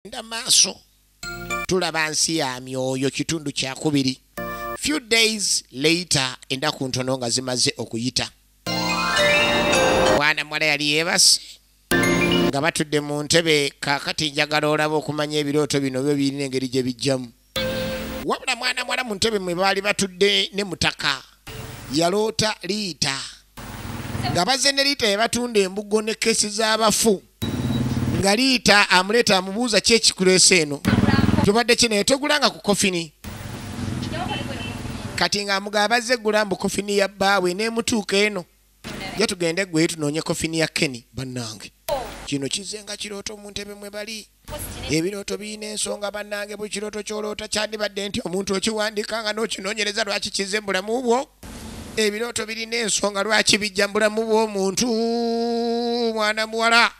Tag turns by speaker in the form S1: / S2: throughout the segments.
S1: tugenda maaso tulaba nsi ya myoyo kitundu kyakubiri few days later endaku ntono nga zimaze okuyita mwana muwala yali yebase nga batudde mu ntebe kakati njagala olaba okumanya ebirooto bino byo birina engeri gye bijjamu wabula mwana mwala mu ntebe mwe baali batudde ne mutaka yaloota liita nga bazze ne liita yabatunda embugo ne kesi z'abafu nga liita amuleeta amubuuza ki ekikuleesa eno tubadde ki naye tegulanga ku kofini kati ng'amugamba bazze gula mbu kofini ya bbaawe n'emutuuka eno Ja tugende gwe tunoonye kofini ya Kenny bannange. Kino kizenga kirooto mu ntebe mwe bali. Ebirooto birina ensonga bannange buli kirooto ky'oloota kyandibadde nti omuntu okiwandika nga n'okinoonyereza lwaki kizze mu bulamu bwo. Ebirooto birina ensonga lwaki bijja mu bulamu bw'omuntu mwana muwala.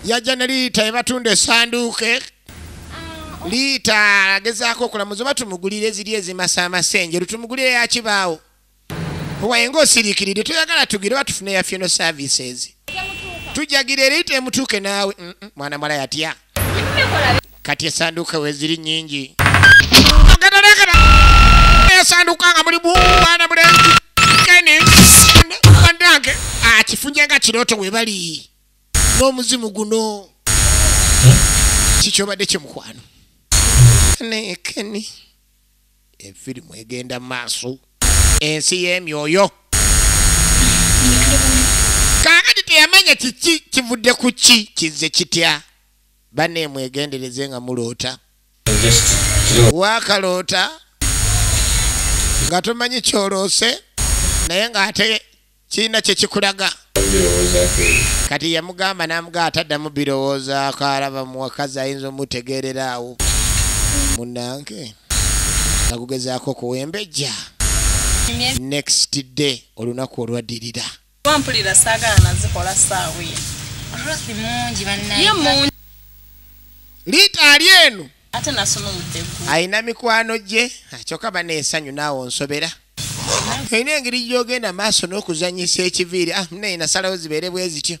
S1: Yajja ne liita ebatunda esanduuke. Liita agezaako okulamuza oba tumugulire eziri ezimasaamasa enjeru tumugulire yakibaawo. wayenga osiriikiridde toyagala tugire oba tufune ya funeral services tujagira era ite emutuuke naawe mwana mala yatya kati esanduuka weziri nyingi esanduuka nga mulimu mwana mulenzi keni banange akifunye ah, nga kirooto webali n'omuzimu guno kikyobadde kyemukwano nekeni Enfirimu egenda mu maaso. Ensi y'emyoyo. Kaakati teyamanya kiki kivudde ku ki kizze kitya. Banne mwegendereze nga muloota. Waakaloota nga tomanyi kyoloose naye ng'ate kirina kyekikulaga kati yamugamba namuga ataddamu birowoozaako alaba muwakazi ayinza omutegeerera awo munange nakugezaako okuwembejja next day olunaku olwaddirira wampulira
S2: saagala nazikola saawa
S1: eyo liita ali eno ate nasoma
S2: omuddeggu alina mikwano gye
S1: kyoka bana ensanyu naawe onsobera olina engeri gyogenda maaso n'okuzanyisa ekiviiri ah, naye nasalawo zibeere bwe zityo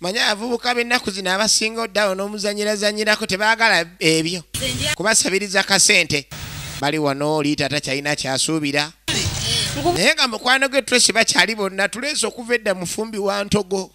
S1: manya abavubuka b'ennaku zino abasinga oddawo n'omuzanyirazanyirako tebaagala ebyo kubasabiriza kasente bali wano oli taata kyalina kyasuubira naye nga mukwano ge twesi bakyali bonna tuleesa okuva edda mufumbi wa ntogo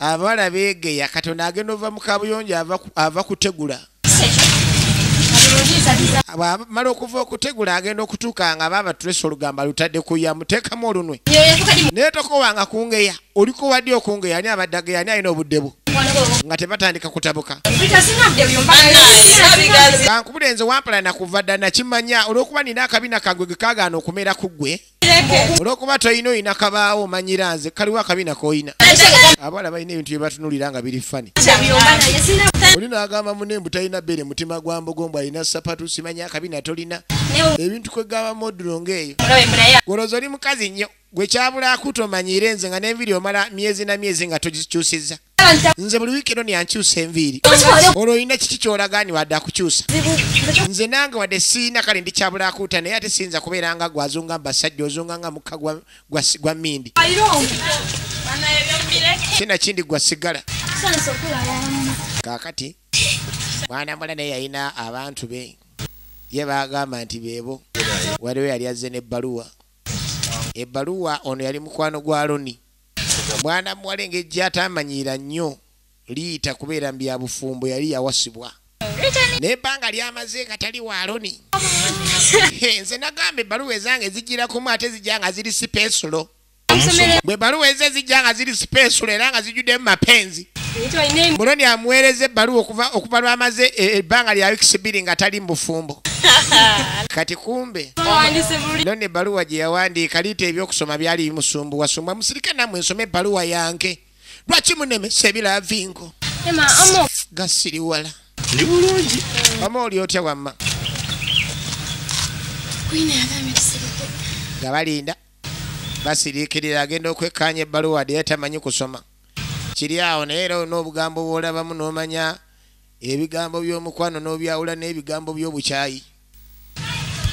S1: abawala beegeya katonda agenda ova mu kabuyonjo ava kutegula bwamala okuva okutegula agenda okutuuka nga baaba tulesa olugamba lutadde kuya muteekamu olunwe naye tokowanga kungeya oliko wadi okungeya ani abadde ageya ani alina obudde bwo nga tebatandika kutabuka kankubule nze wampala nakuva dda nakimanya olwokuba nina akabina kagwe gekagaana okumera ku ggwe olwokuba tolina olina kabaawo omanyira nze kaliwo akabina kolina abawala balina ebintu byebatunulira nga biri fani oli nagamba mune mbu talina bere mutima gwa mbogo mbu alina sapatu simanya akabina tolina ebintu kwegamba modulo ngaeyo goloza oli mukazi nnyo gwe kyabula akutomanyire nze nga nenviri omala myezi na myezi nga togikyusiza nze buli wiiki eno nyankyusa enviiri olwo olina kiki kyolaga ni wadde akukyusa nze nange wadde siina kale ndi kyabulakuuta naye ate siyinza kubeera nga gwe azunga mbasajja ozunga nga mukka gwa mindi kina kindi gwa sigala kakati mwana mula naye yalina abantu be ye bagamba nti beebo waliwo yali azze n'ebbaluwa ebbaluwa ono yali mukwano gwa loni omwana muwala engeri gyatamanyiira nnyo liyita kubeera mu byabufumbo yali yawasibwa nebbanga lyamaze nga tali waaloni nze nagamba ebbaluwa ezange zijjirakumu ate zijja nga ziri sipensulo bwe baluwa eze zijja nga ziri sipensulo era nga zijjuddemu mapenzi muloni amuweereza ebbaluwa okuva lwamaze e, e, ebbanga lya wikisi bbiri nga tali mubufumbo kati kumbe loni ebbaluwa gye yawandiika liita ebyokusoma byali bimusumbuwa sumba musirika namwe nsoma ebbaluwa yange lwaki munemesa ebilavingo gasiriwala
S3: omu oli otya wamma
S1: nga balinda basiriikirira agenda okwekkaanya ebbaluwa dde yatamanyi kusoma Kiri awo naye era olina obugambo bw'olabamu n'omanya ebigambo by'omukwano n'obyawula n'ebigambo by'obukyayi.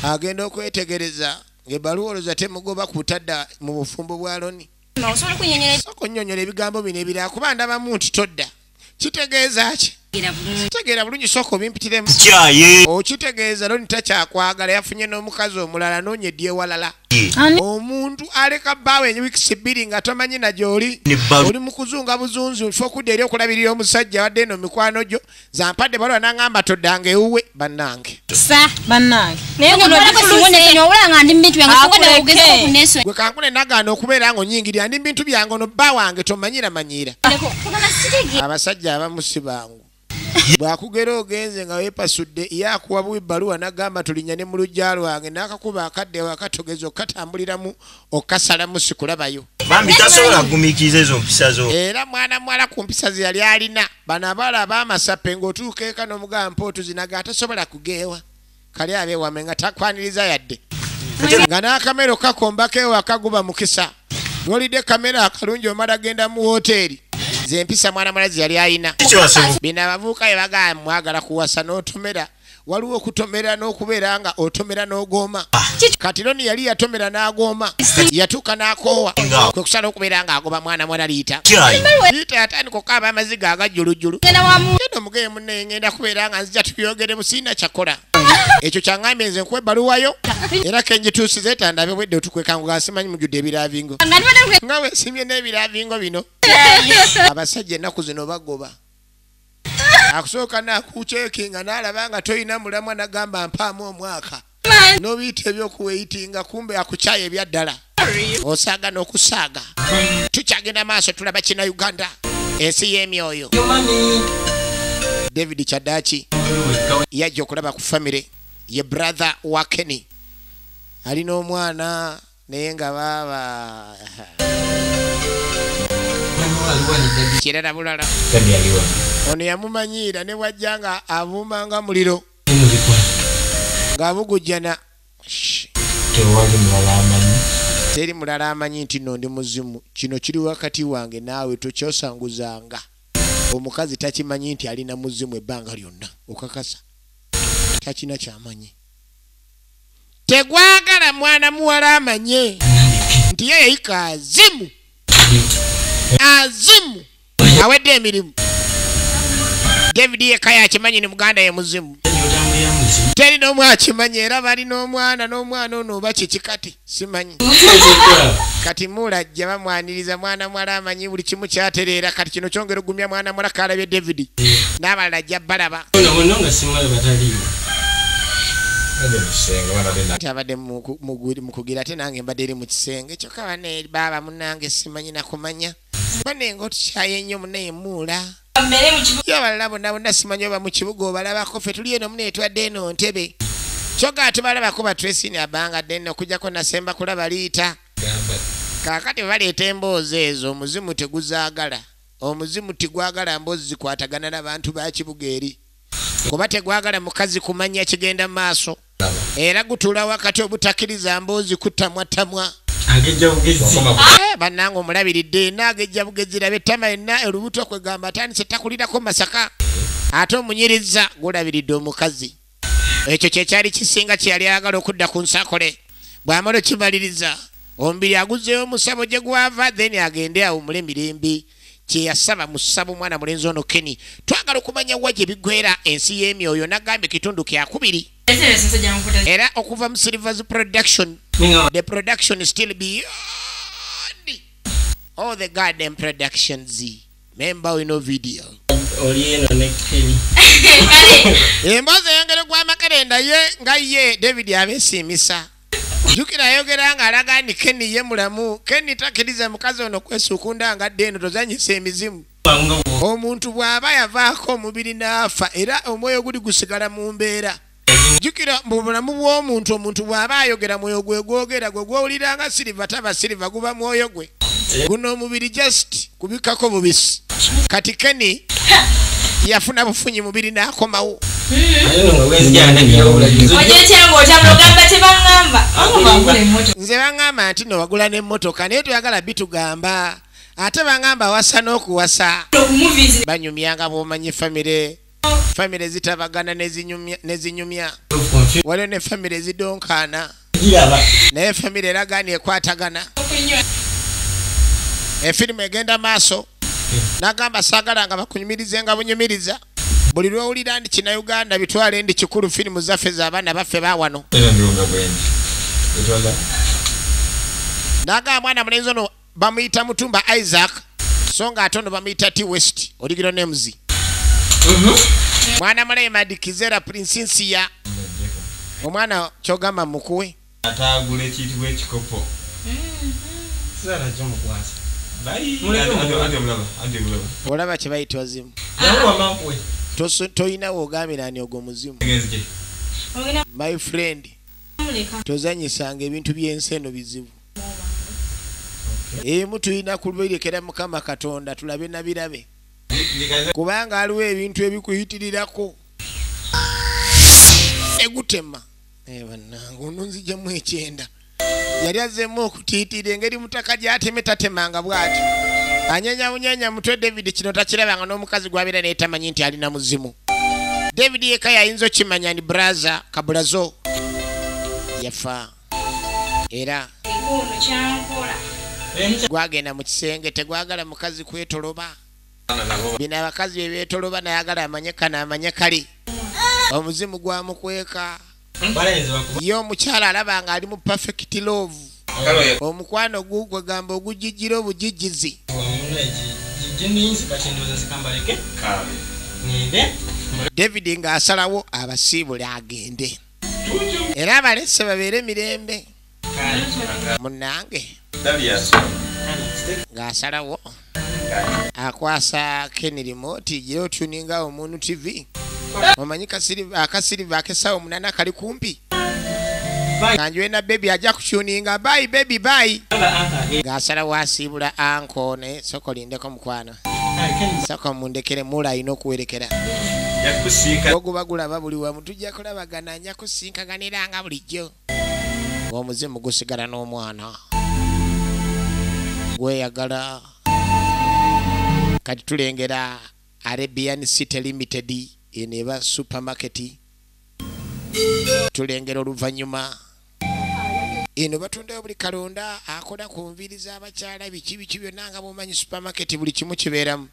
S1: Agenda okwetegereza ng'ebbaluwa olowooza temugoba kutadda mu bufumbo bwa Loni. Sooka onnyonnyole ebigambo bino ebirala kuba ndabamu nti todda. kitegeeza ki kitegeera bulungi sooka obimpitiremu okitegeeza loni takyakwagala yafunye n'omukazi omulala noonya edyewalala omuntu aleka bbaawe enyuwikisi bbiri nga tomanyi na gyoli oli mu kuzunga buzunzi nfa okudda eri okulabirira omusajja wadde eno mikwano gyo zampadde balwa nangamba toddanga ewuwe bannange sa bannange naye guno gifuluse wabula nga ndi mubintu byange sokoda ogeza okuneso gwe kankune nagaana okubeera nga onyingirira ndi mubintu byange ono bba wange tomanyira manyiira abasajja abamu si bangu bwakugera ogenze nga wepasudde yakuwa buwi bbaluwa nagamba tulinya ne mu lujja lwange nakakuba akadde wakatogeza okukatambuliramu okukasalamu sikulabayo bambi tasobola
S3: kugumikiriza ezo mpisa zo era mwana muwala ku
S1: mpisa ze yali alina Bano abala abamasape ng'otuuka eka n'omugamba mpa otuzinaga atasobola kugeewa kali abeewame nga takwaniriza yadde nga n'akamero kakombako ewaka guba mukisa nolidde kamera akalungi omala genda mu wooteeri zempisa mwana mulazi yali ayina bino abavubuka bye bagamba mwagala kuwasa n'otomera no waliwo okutomera n'okubeera nga otomera n'ogooma ah, kati roni yali yatomera n'agooma yatuuka n'akoowa kwe kusala okubeera nga agoba mwana mwana liita liita yatandika okukaaba amaziga agajjulujjulu genda omugeye munne ngenda kubeera nga nzija tubyogeremu siina kyakola ekyo kyaŋambye nze nkuwa ebbaluwayo era kenjituusiza etandabe bwedde otukwekangula simanyi mujjudde ebiravingo nga wesimye n'ebiravingo bino abasajja ennaku zino bagoba akusooka nakucekinga nalaba nga tolina mulamwa nagamba mpaamu omwaka nobiyita ebyokuweyitinga kumbe akucaya ebyaddala osaaga nokusaaga tukyagenda maaso tulaba kina uganda ensi yemyoyo david kyadaki yajja okulaba ku famire ye brother wa kenny ali n'omwana naye nga baaba kirala bulala ono yamumanyiira ne bwajja nga avuuma nga muliro ng'abugujjana teri mulala amanyi nti no ndi muzimu kino kiri wakati wange naawe tokyosanguzanga omukazi takimanyi nti alina muzimu ebbanga lyonna okakasa takina kyamanyi tegwagala mwana muwala amanye nti ye yayika azimu azimu awedde emirimu david yeka yakimanyi ni muganda ye muzimu teri n'omu akimanyi era bali n'omwana n'omwana ono oba kiki kati simanyi kati mulajja bamwaniriza mwana mwala amanyi buli kimu kyatereera kati kino kyongera ogumya mwana mwala kalabye david n'abalala ajja balaba abadde mukugira ate nange mbadde eri mu kisenge kyokka bane baaba munange simanyi nakumanya bane nga otukyaye nnyo munaye muula yabalala bonna bonna simanyi oba mu kibuga obalabako fe tuli eno munaye twadde eno ntebe kyoka atubalabako batresini abanga dene okujako nasemba kulaba liita kakati baleeta emboozi ezo omuzimu teguzagala Omuzimu tigwagala mbozi zikwatagana na bantu ba kibuga eri kuba tegwagala mukazi kumanya kigenda mu maaso era gutula wakati obutakiriza mboozi kutamwatamwa eh, bannanga omulabiridde ena agejja bugezi labe tama enna olubuto kwegamba atandise takulirako masaka ate omunyirizza gulabiridde omukazi ekyo kyekyali kisinga kyeyali ayagala okudda ku nsakole bwamala okimaliriza omubiri aguzeewo musabo gye gwava then agende awumule emirembe kyeyasaba musaba omwana mulenzi ono keni twagala okumanya wa gye bigwera ensi y'emyoyo nagambye kitundu kyakubiri era okuva mu silvers production the production still beyond all the garden productions memba olina vidiyo emboozi eyongere gwa makerenda ye nga ye david abesiimisa jukira ayogera nga alaga nti keni ye mulamu keni takiriza mukazi ono kwesuukunda nga dde eno tozanyisa emizimu omuntu bw'aba yavaako omubiri n'afa era omwoyo guli gusigala mu mbeera jukira mu bulamu bw'omuntu omuntu bw'aba ayogera mwoyo gwe gwogera gwe gwowulira nga siriva taba siriva guba mwoyo gwe guno omubiri just kubikako bubisi kati keni yafuna bufunyi mubiri n'akomawo nze baŋŋamba nti no wagula n'emmotoka naye toyagala bitugamba ate baŋŋamba wasa n'okuwasa banyumyanga bwomanyi famire famire zitabagana nezinyumya waliwo ne famire zidonkaana naye famire eragaani ekwatagana efirimu egenda maaso nagamba sagala nga bakunyumirize nga bunyumiriza buli lwowulira ndi kina uganda bitwale ndi kikulu firimu zaffe zabaana baffe bawano nagamba mwana mulenzi ono bamuyita mutumba isaac so nga ate ono bamuyita t west oligiro nemuzi mhm. mwana mulaye madikizera prinsinsiya omwana kyogamba mukuwe atagula
S4: ekiyitibwa
S1: ekikopo olaba kyebayitwa zimu tolina wogamirani ogwo muzimu my friend tozanyisanga ebintu byensi eno bizibu emu tulina kubirekera mukama katonda tulabe nabirabe kubanga aliwo ebintu ebikuyitirirako egutema eh, banange ono nzijamu ekyenda yali azemu okutiitira engeri mutaka gyateme tatemanga bwati anyanyabunyanya mutwe david kino takirabanga n'omukazi gwabeera naye tamanyi nti alina muzimu david yeka yayinza okimanya ni braza kabulazo yafa era gwagenda mu kisenge tegwagala mukazi kwetoloba bino abakazi bebetoloba nayagala amanye kano amanye kali omuzimu gwamukweka ye omukyala alaba nga ali mu perfect love omukwano gugwegamba ogujijira obujijizi david ng'asalawo abasiibule agende era abalese babeere mirembe munange ng'asalawo akwasa kenirimo tijire otuninga omuntu tv omanyi akasiriva akesawo munana kali kumpi kanjwena bebi ajja kutuninga bayi bebi bayi ng'asalawo asiibula anko naye sokolindeko mukwano saka mundekere mula alina okuwerekera oguba gulaba buli wamu tujja kulabagana anya kusinkaganira nga bulijjo omuzimu gusigala n'omwana gweyagala kati tulengera arabian city limited eno eba supermarket tulengera oluvannyuma eno batundayo buli kalonda akola ku nviiri z'abakyala biki biki byonna nga bwomanyi supamaketi buli kimu kibeeramu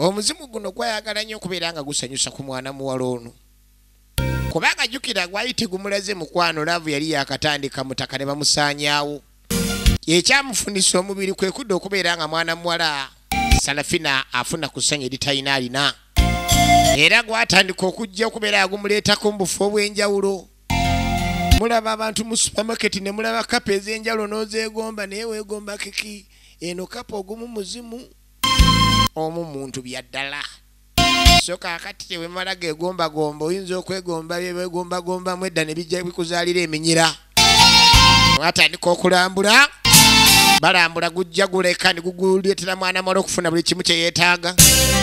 S1: omuzimu guno gwayagala nnyo okubeera nga gusanyusa ku mwana muwala ono kubanga jukira gwali tegumulaze mukwano laavu yali yakatandika mutaka ne bamusaanyaawo ekyamufunisa omubiri kwe kudda okubeera nga mwana muwala salafina afuna ku ssanyu eritalina alina era gwatandika okujja okubeera agumuleetako mu bufo obw'enjawulo mulaba abantu mu supermarket ne mulaba kapa ez'enjalo n'ozeegomba naye weegomba kiki eno kapa ogumu muzimu omu muntu bya ddala so kaakati tewemala geegombagomba oyinza okwegomba byebegombagombamu edda ne bijja bikuzaalira eminyira mwatandika okulambula balambula gujja guleka ne guguleetera mwana mwala okufuna buli kimu kye yeetaaga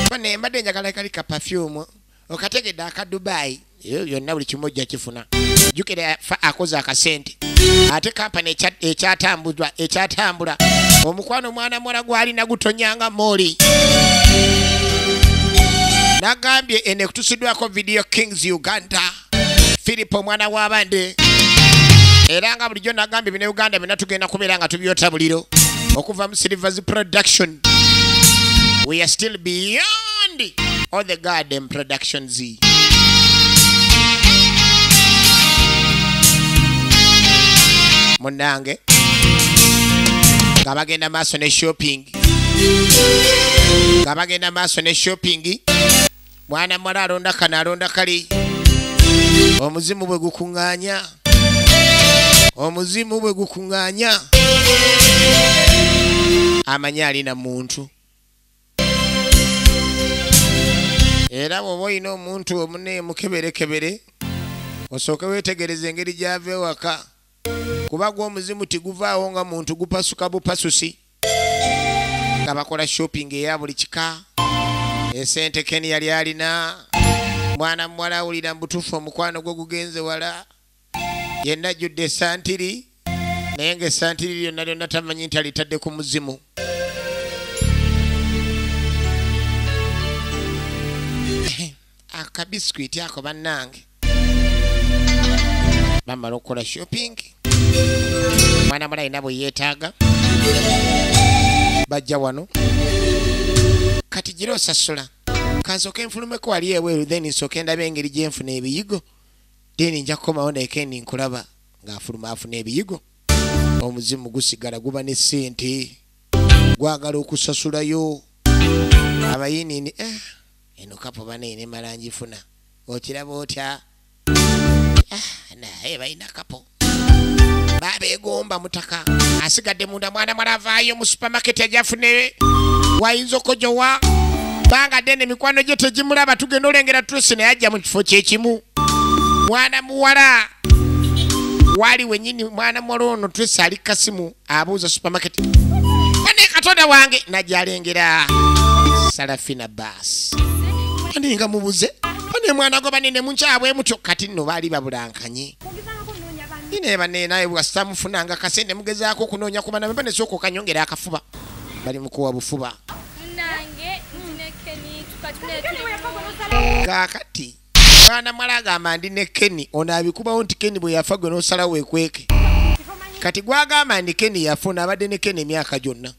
S1: ba ne mbadde njagala kali kapafyumu okategedde aka dubai ebyo byonna buli kimu ojja kifuna jukira fa akoze akasente ate kampani ekyatambuzwa ekyatambula omukwano omwana muwala gwalina gutonyanga mooli nagambye eno ekutusiddwako video kings uganda philip omwana w'abande era nga bulijjo nagambye bine uganda byonna tugenda kubeera nga tubyota buliro okuva mu silvers production we are still beyond Andy or the Garden Productions. Munange nga bagenda maaso ne shopping nga bagenda maaso ne shopping mwana muwala alonda kano alonda kali omuzimu bwe gukuŋŋaanya omuzimu bwe gukuŋŋaanya amanyi alina muntu era bwoba olina omuntu omune mukeberekebere osooke wetegereza engeri gyava ewaka kuba gwa omuzimu tiguvaawo nga muntu gupasuka bupasusi nga bakola shopping eya buli kika esente ken yali alina mwana muwala awulira mubutuufu omukwano gwe gugenze wala yenna ajjudde esantiri naye nga esantiri lyonna lyonna tamanyi nti alitadde ku muzimu akabiskwiti ako bannange bamala okukola shopping mwana mula alina bwe yeetaaga bajja wano kati gira osasula kansooka enfulumeko wali ebweru then nsooka endaba engeri gyenfuna ebiyigo deni nja kukomawo naye kendi nkulaba ng'afuluma afuna ebiyigo omuzimu gusigala guba ne ssente gwagala okusasulayo abayinini eh, eno kapo banaye ne malanjifuna okiraba otya ah, naye balina kapo babegomba mutaka asigadde munda mwana mwala avaayo mu supamaketi ajafune wayinza okojowa banga dene mikwano gye tegimulaba tugenda olengera trusi naye ajja mu kifo kyekimu mwana muwala wali wenyini mwana muwala ono trusi ali kasimu abuuza supamaketi ane katonda wange najalengera salafina bas aninga mubuze ane mwana gobane nemunkyabwemutyo kati nno baali babulankanye ine bane naye bwasita mufunanga kasente mugezaako okunoonya kuba nabeba nesooka okanyongera akafuba bali mukuwa bufuba kakati mwana mwala agamba ndi ne keni ono abikubawo nti keni bwe yafa gwe nosala wekweke kati gwagamba ndi keni yafuna abadde ne keni emyaka gyonna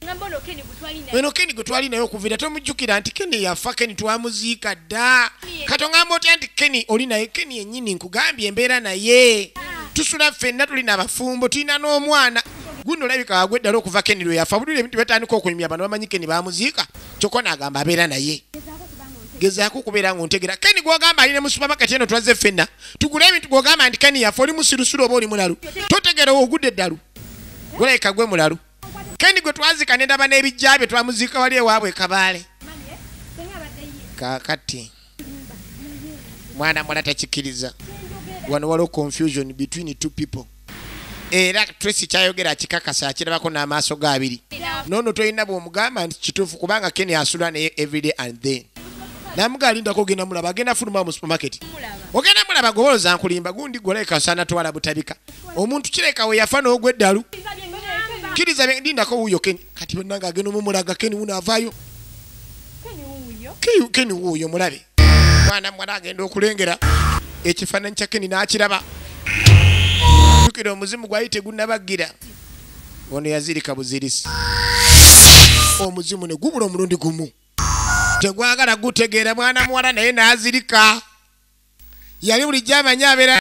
S1: eno keni gwe twali naye okuvira tomujjukira nti keni yafa keni twamuziika dda kati ongamba otya nti keni oli naye keni yennyini nkugambye embeera naye tusula ffenna tuli nabafumbo tulina n'omwana guno olabika wagwe eddala okuva keni lwe yafa bulire ebintu byatandika okunyumya bano bamanyi keni bamuziika kyokka naagamba abeera naye gezaako okubeera ngaontegera keni gwogamba ali ne mu supamaketi eno tulaze ffenna tugule ebintu gwogamba nti keni yafa oli musirusuru oba oli mulalu totegera ogudde eddalu gulabika gwe mulalu kendi gwe twazika ne ndaba n'ebijja bye twamuziika wali ewaabwe e kabaale kakati mwana mwala takikkiriza wano waliwo confusion between two people era tracy kyayogera akikakasa akirabako n'amaaso ga abiri noono tolina bwomugamba nti kituufu kubanga keni asula naye everyday and then namuga alindako ogenda mulaba agenda fuluma mu supermarket ogenda mulaba goboloza nkulimba gundi goleka osana twala butabika omuntu kireka we yafa n'ogwa eddalu kiriza ndindako wuuyo keni kati bannange agenda omumulaga keni wuno avaayo keni wuuyo mulabe mwana mwana agenda okulengera ekifaananyi kya keni n'akiraba jukira omuzimu gwali tegunnabagira ono yazirika buzirisi omuzimu ne gubula omulundi gumu tegwagala gutegeera mwana muwala naye n'azirika yali bulijjo amanyi abeera